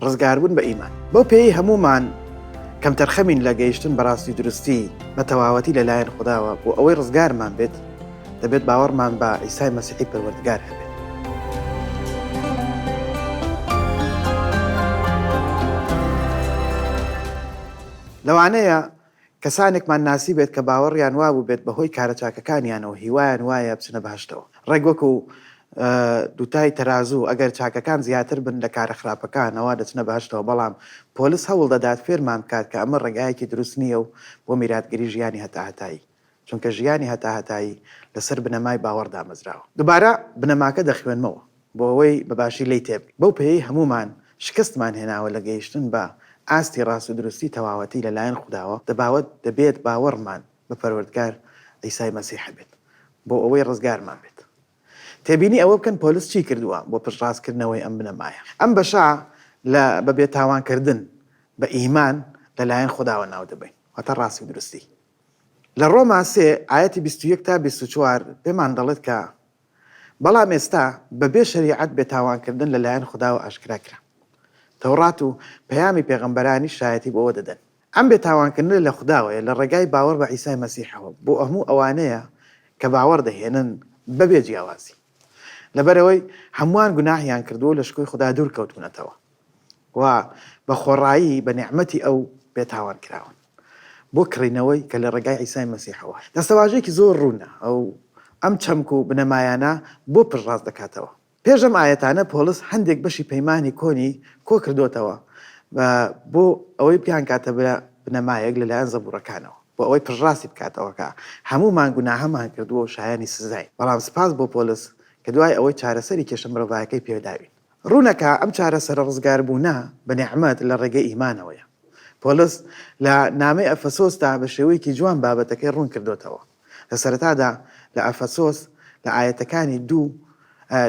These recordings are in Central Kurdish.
ڕزگاربوون بە ئیمان بەو پێی هەمومان کەمتەرخەمین لە گەیشتن بەڕاستی درستی بە تەواوەتی لەلایەن خداوە بۆ ئەوەی ڕزگارمان بێت دەبێت باوەڕمان بە ئیسای مەسیحی پەروەردگار هەبێت لەوانەیە کەسانێکمان ناسیبێت کە باوەڕیان وابووبێت بەهۆی کارە چاکەکانیانەوە هیوایان وایە بچنە بەهەشتەوە، ڕێک وەکو دووتای تەرازوو، ئەگەر چاکەکان زیاتر بن لە کارە خراپەکان ئەوا دەچنە بەهەشتەوە، بەڵام پۆلس هەوڵدەدات فێرمان بکات کە ئەمە ڕێگایەکی دروست نییە و بۆ میراتگری ژیانی هەتاهەتایی. چونکە ژیانی هەتاهەتایی لەسەر بنەمای باوەڕ دامەزراوە. دوبارە بنەماکە دەخوێنمەوە بۆ ئەوەی بە باشی لێی تێبگەین. بەو پێیەی هەموومان شکستمان هێناوە لە گەیشتن بە ئاستی ڕاست و دروستی تەواوەتی لەلایەن خوداوە، دەباوت دەبێت باوەڕمان بە پەروەردگار عیسای مەسیح هەبێت بۆ ئەوەی ڕزگارمان بێت. تێبینی ئەوە بکەن پۆلس چی کردووە بۆ پشتڕاستکردنەوەی ئەم بنەمایە. ئەم بەشە لە بە بێتاوانکردن بە ئیمان لەلایەن خوداوە ناودەبەین، واتە ڕاستی و دروستی. لە ڕۆما سێ ئایەتی بیست و یەک تا بیست و چوار پێمان دەڵێت کە، بەڵام ئێستا بەبێ شەریعەت بێتاوانکردن لەلایەن خوداوە ئاشکرا کرا. تەوڕات و پەیامی پێغەمبەرانیش شایەتی بۆوە دەدەن. ئەم بێتاوانکردنە لە خوداوەیە لە ڕێگای باوەڕ بە عیسای مەسیحەوە بۆ هەموو ئەوانەیە کە باوەڕ دەهێنن بەبێ جیاوازی. لەبەرئەوەی هەمووان گوناهیان کردووە و لە شکۆی خودا دوورکەوتوونەتەوە. و بە خۆڕایی بە نیعمەتی ئەو بێتاوان کراون بۆ کڕینەوەی کە لە ڕێگای عیسای مەسیحەوە. دەستەواژەیەکی زۆر ڕوونە ئەو ئەم چەمک و بنەمایانە بۆ پشتڕاست دەکاتەوە. پێش ئەم ئایەتانە پۆڵس هەندێک بەشی پەیمانی کۆنی کۆ کردۆتەوە بۆ ئەوەی بیانکاتە بنەمایەک لەلایەن زەبوڕەکانەوە بۆ ئەوەی پشتڕاستی بکاتەوە کە هەموومان گوناهەمان کردووە و شایانی سزاین، بەڵام سپاس بۆ پۆلس کە دوای ئەوەی چارەسەری کێشە مرۆڤایەکەی پێداوین. ڕوونە کە ئەم چارەسەرە ڕزگاربوونە بە نیعمەت لە ڕێگەی ئیمانەوەیە. پۆلس لە نامەی ئەفەسۆسدا بە شێوەیەکی جوان بابەتەکەی ڕوون کردۆتەوە. لە سەرەتادا لە ئەفەسۆس لە ئایەتەکانی دوو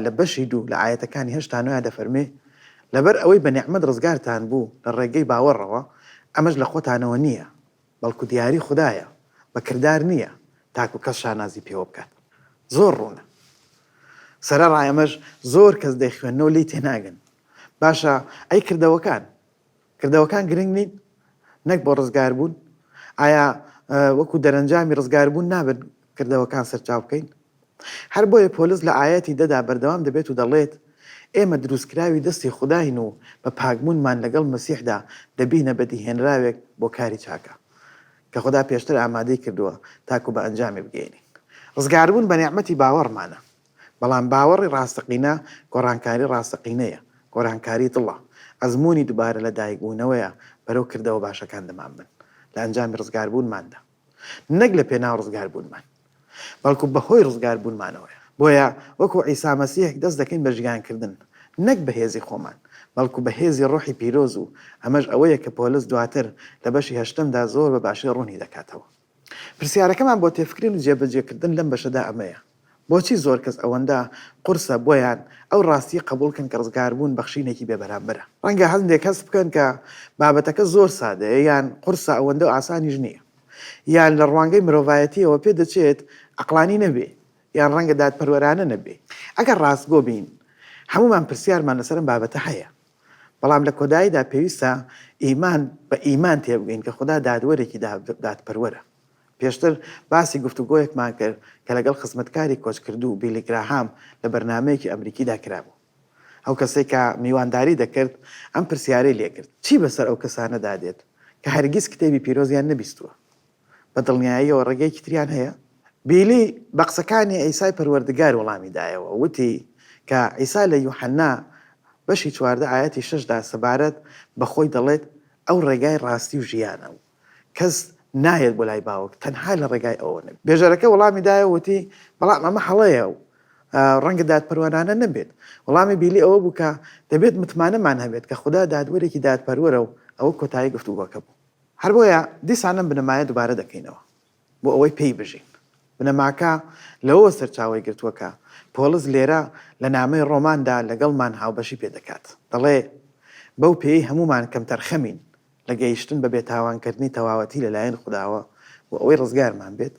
لە بەشی دوو لە ئایەتەکانی هەشت تا نۆیان دەفەرموێ، لەبەر ئەوەی بە نیعمەت ڕزگارتان بوو لە ڕێگەی باوەڕەوە، ئەمەش لە خۆتانەوە نییە، بەڵکو دیاری خودایە بە کردار نیە تاکو کەس شانازی پێوە بکات زۆر ڕوونە سەرەڕای ئەمەش زۆر کەس دەیخوێننەوە لێی تێناگەن باشە ئەی کردەوەکان کردەوەکان گرنگ نین نەک بۆ ڕزگار بوون ئایا وەکو دەرەنجامی ڕزگار بوون نابن کردەوەکان سەرچاو بکەین هەر بۆیە پۆلس لە ئایەتی دە دا بەردەوام دەبێت و دەڵێت، ئێمە دروستکراوی دەستی خوداین و بە پاکبوونمان لەگەڵ مەسیحدا دەبینە بەدیهێنراوێک بۆ کاری چاکە کە خودا پێشتر ئامادەی کردووە تاکو بە ئەنجامی بگەیەنین. ڕزگاربوون بە نیعمەتی باوەڕمانە، بەڵام باوەڕی ڕاستەقینە گۆڕانکاری ڕاستەقینەیە، گۆرانکاری دڵە، ئەزموونی دوبارە لەدایکبوونەوەیە بەرەو کردەوە باشەکان دەمانبەن لە ئەنجامی ڕزگاربوونماندا. نەک لە پێناو ڕزگار بوونمان بەڵکو بە هۆی ڕزگار بوونمانەوەیە بۆیە وەکو عیسا مەسیح دەست دەکەین بە ژیان کردن نەک بە هێزی خۆمان بەڵکو بە هێزی ڕۆحی پیرۆز و ئەمەش ئەوەیە کە پۆلس دواتر لە بەشی هەشتەمدا زۆر بە باشی ڕوونی دەکاتەوە پرسیارەکەمان بۆ تێفکرین و جێبەجێ کردن لەم بەشەدا ئەمەیە بۆچی زۆر کەس ئەوەندە قورسە بۆیان ئەو ڕاستییە قبوڵ بکەن کە ڕزگاربوون بەخشینێکی بێبەرامبەرە؟ ڕەنگە هەندێک هەست بکەن کە بابەتەکە زۆر سادەیە یان قورسە ئەوەندە ئاسانیش نییە یان لە ڕوانگەی مرۆڤایەتییەوە پێدەچێت عەقڵانی نەبێ یان ڕەنگە دادپەروەرانە نەبێ. ئەگەر ڕاستگۆ بین هەموومان پرسیارمان لەسەر ئەم بابەتە هەیە بەڵام لە کۆداییدا پێویستە ئیمان بە ئیمان تێبگەین کە خودا دادوەرێکی دادپەروەرە. پێشتر باسی گفتوگۆیەکمان کرد کە لەگەڵ خزمەتکاری کۆچکردوو بیلی گراهام لە بەرنامەیەکی ئەمریکیدا کرابوو. ئەو کەسەی کە میوانداری دەکرد ئەم پرسیارەی لێ کرد، چی بەسەر ئەو کەسانەدا دێت کە هەرگیز کتێبی پیرۆزیان نەبیستووە؟ بە دڵنیاییەوە ڕێگەیەکی تریان هەیە؟ بیلی بە قسەکانی عیسای پەروەردگار وەڵامی دایەوە و وتی کە عیسا لە یوحەنا بەشی چواردە ئایەتی شەشدا سەبارەت بە خۆی دەڵێت، ئەو ڕێگای ڕاستی و ژیانە و کەس نایەت بۆ لای باوک تەنها لە ڕێگای ئەوە نەبێت. بێژەرەکە وەڵامی دایە و وتی، بەڵام ئەمە هەڵەیە و ڕەنگە دادپەروەرانە نەبێت. وەڵامی بیلی ئەوە بوو کە دەبێت متمانەمان هەبێت کە خودا دادوەرێکی دادپەروەرە و ئەوە کۆتایی گفتوگۆکە بوو. هەر بۆیە دیسان ئەم بنەمایە دووبارە دەکەینەوە بۆ ئەوەی پێی بژین. بنەماکە لەوەوە سەرچاوەی گرتووە کە پۆڵس لێرە لە نامەی ڕۆماندا لەگەڵمان هاوبەشی پێ دەکات. دەڵێ، بەو پێیەی هەموومان کەمتەرخەمین، لە گەیشتن بە بێتاوانکردنی تەواوەتی لەلایەن خوداوە بۆ ئەوەی ڕزگارمان بێت،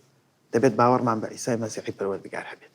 دەبێت باوەڕمان بە عیسای مەسیحی پەروەردگار هەبێت.